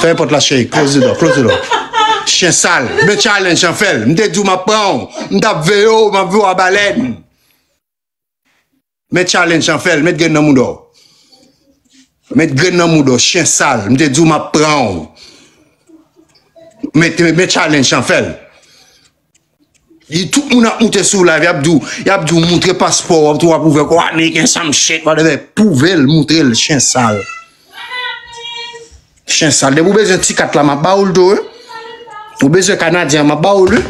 Fèmen pòt la cheri, close the door, close the door. Chien sal, men challenge an fèl. M te di w map pran w, m tap veye w, map veye w a balèn. Men challenge an fèl, met grenn nan mouda w. Met grenn nan mouda w, chien sal, m te di w map pran w. Men challenge an fèl. Li tout moun ap moute sou live yap diw yap diw moutre paspò wap tou wap ouvè kòw ameriken sam shit whatever pouvel moutrel chen sal chen sal depi ou bezwen ti kat la map bawoul tou wi ou bezwen kanadyen an map bawoul wi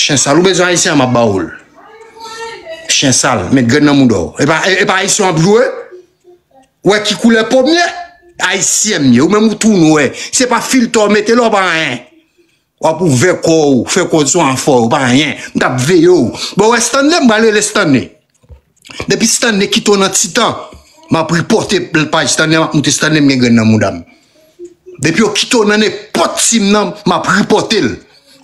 chen sal ou bezwen ayisyen an map bawoul chen sal met grenn nan moudaw epa epa ayisyen wap jwe ou wè ki koulè pom ye ayisyen m ye ou menm ou tou nwè se pa filtè ou mete la ou pa anyen Wap ouvè kò w fè kòz sou anfò ou pa anyen m tap veye w bon ou wè Stanley m pral rele Stanley depi Stanley kite w nan ti tan map ripòte paj Stanley map moute Stanley m gen grenn nan mouda m depi yo kite w nan nenpòt team nan map ripòte l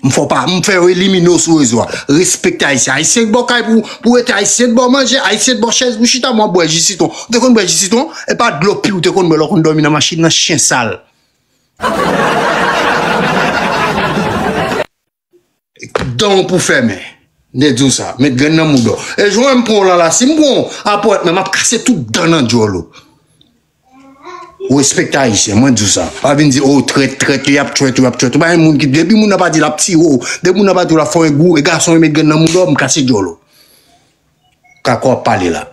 m fè w pa m fè yo elimine w sou rezo a respekte ayisyen ayisyen k bò kay pou ou pou rete ayisyen k bò manje ayisyen k bò chèz pou chita m wap bwè ji sitwon ou te konn bwè ji sitwon epa dlo pi ou te konn bwè lè w konn dòmi nan machin nan chyen sal. Danw pou fèmen. Nde diw sa. Met grenn nan mouda w. E jwen m pranw lan la si m pranw apre w t men map kase tout dan nan dyol ou. Ou respekte ayisyen mwen diw sa. Pa vin di oh trèt trèt li ap trèt ou ap trèt ou pa gen moun ki depi moun nan pa di lap tire w depi moun nan pa di w lap fè w e gou e gason e met grenn nan mouda w m kase dyol ou. Kako ap pale la.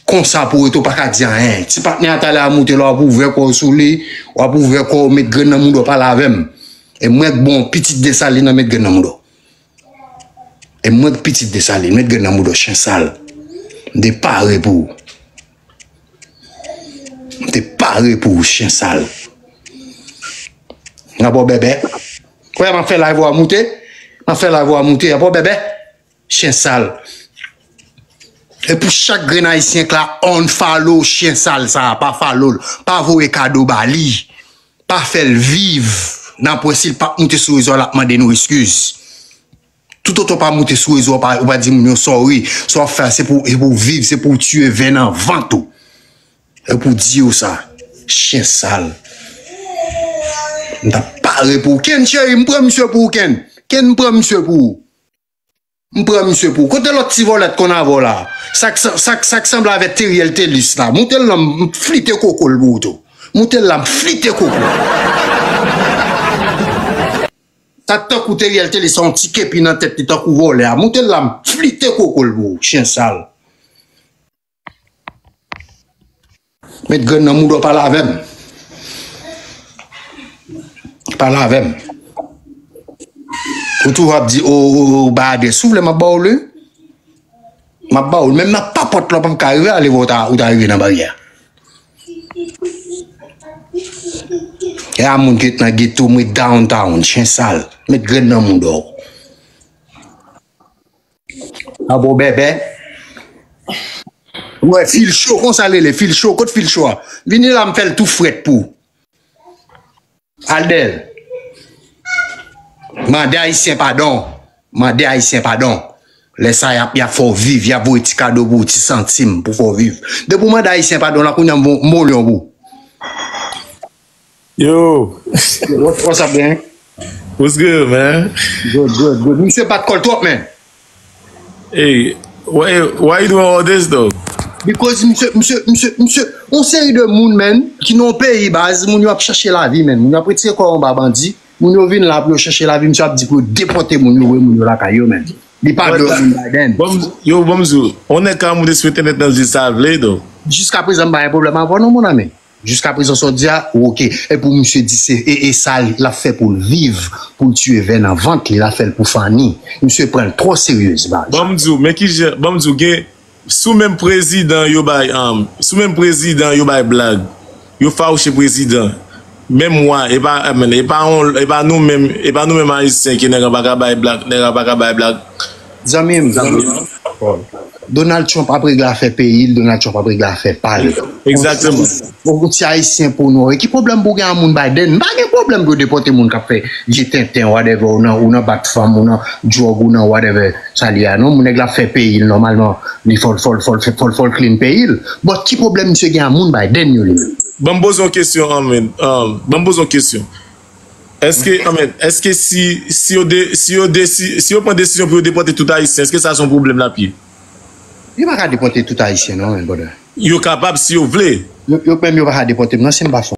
Konsa pou rete w pa ka di anyen. Ti patnè a ta lè a moute la w ap ouvè kò w sou li, w ap ouvè kò w met grenn nan mouda w pale avè m. E mwen k bon pitit Desalin nan met grenn nan mouda w. E mwen k pitit Desalin met grenn nan mouda w chen sal. M te pare pou ou. M te pare pou ou chen sal. N ap wè w bèbè. Wè m ap fè live ou a moute. M ap fè live ou a moute. Ap wè w bèbè. Chien sal. E pou chak grenn ayisyen k la unfollow chien sal sa a pa follow l pa voye kado ba li pa fè l viv nan pwen si l pap moute sou rezo a lap mande nou eskiz tout otan w pa moute sou rezo a ou pa di moun yo sorry sa wap fè a se pou w viv se pou w tiye vè nan vant ou e pou di yo sa chien sal m tap pare pou w kenn cheri m pran misye pou w kenn kenn m pran misye pou ou. M pran misye pou. Kote lot ti volè t konn avè w la? Sak sak sak sanble avè Teriel Telus la? Moute l nan m flite koko l pou ou tou. Moute l la m flite koko l. Sa t tankou Teriel Telus la yon ti kepi nan tèt li tankou volè a. Moute l la m flite koko l pou ou. Chyen sal. Met grenn nan mouda w pale avè m. Pale avè m. Ou toujou ap di ou bay adrès. Si w vle m ap ba w li. M ap ba w li. Menm nan papòt la w pa m ka rive ale wè ou ta rive nan baryè a. E a moun ki ret nan geto m ret downtown. Chen sal. Met grenn nan mouda w. An bon bèbè. Wè fil cho konsa lele fil cho kot fil cho a. Vini la m fèl tou frèt pou. Aldel. Mande ayisyen padon. Mande ayisyen padon. Lè sa yap yap fè w viv, yap voye ti kado pou w, ti santim pou fè w viv. Depi w mande ayisyen padon la kounye an m voye yon mol yon pou w. Yo! What's up gang? What's good man? Good good good Misye bat kòl twòp man! Hey, why why you doing all this though? Because misye misye misye misye yon seri de moun man ki nan yon peyi baz, moun yo ap chache lavi man, moun yo ap retire kò yo anba bandi, moun yo vin la pou yo chache lavi, misye ap di pou yo depòte moun yo voye moun yo lakay yo man. Li pa vle wè moun Biden. Bon yo bon m di w, yon nèg ka moute sou entènèt nan di sa l vle though. Jiskaprezan m pa gen pwoblèm avè w non mon ami. Jiska prezan sa w di a ou ok. E pou misye di se e sa lap fè poul viv poul tiye vè nan vant li lap fèl pou fanny misye pranl trò seryez man. Banm diw men kijan banm diw gen sou menm prezidan yo bay an sou menm prezidan yo bay blag yo fawouche prezidan menm wa epa epa on epa nou menm epa nou menm ayisyen ki nèg an paka bay blag nèg an paka bay blag Zanmim Donald Trump ap regle afè peyil Donald Trump ap regle afè pal Ou ti ayisyen pou nou Ki pwoblèm pou gen a moun Biden M pa gen pwoblèm pou yo depòte moun kap fè vye tenten whatever ou nan bat fanm ou nan drug ou nan whatever sa li a non nèg la ap fè peyil nòmalman li fòl fòl fòl fòl clean peyil but ki pwoblèm misye gen a moun Biden yo li menm. Banm poze yon kesyon anmweyy Banm poze yon kesyon Eske si yo pran desizyon pou yo depòte tout ayisyen, eske sa se yon pwoblèm lap ye? Yo pa ka depòte tout ayisyen non my brother. Yo kapab si yo vle. Yo menm yo pa ka depòte m non si m pa fon.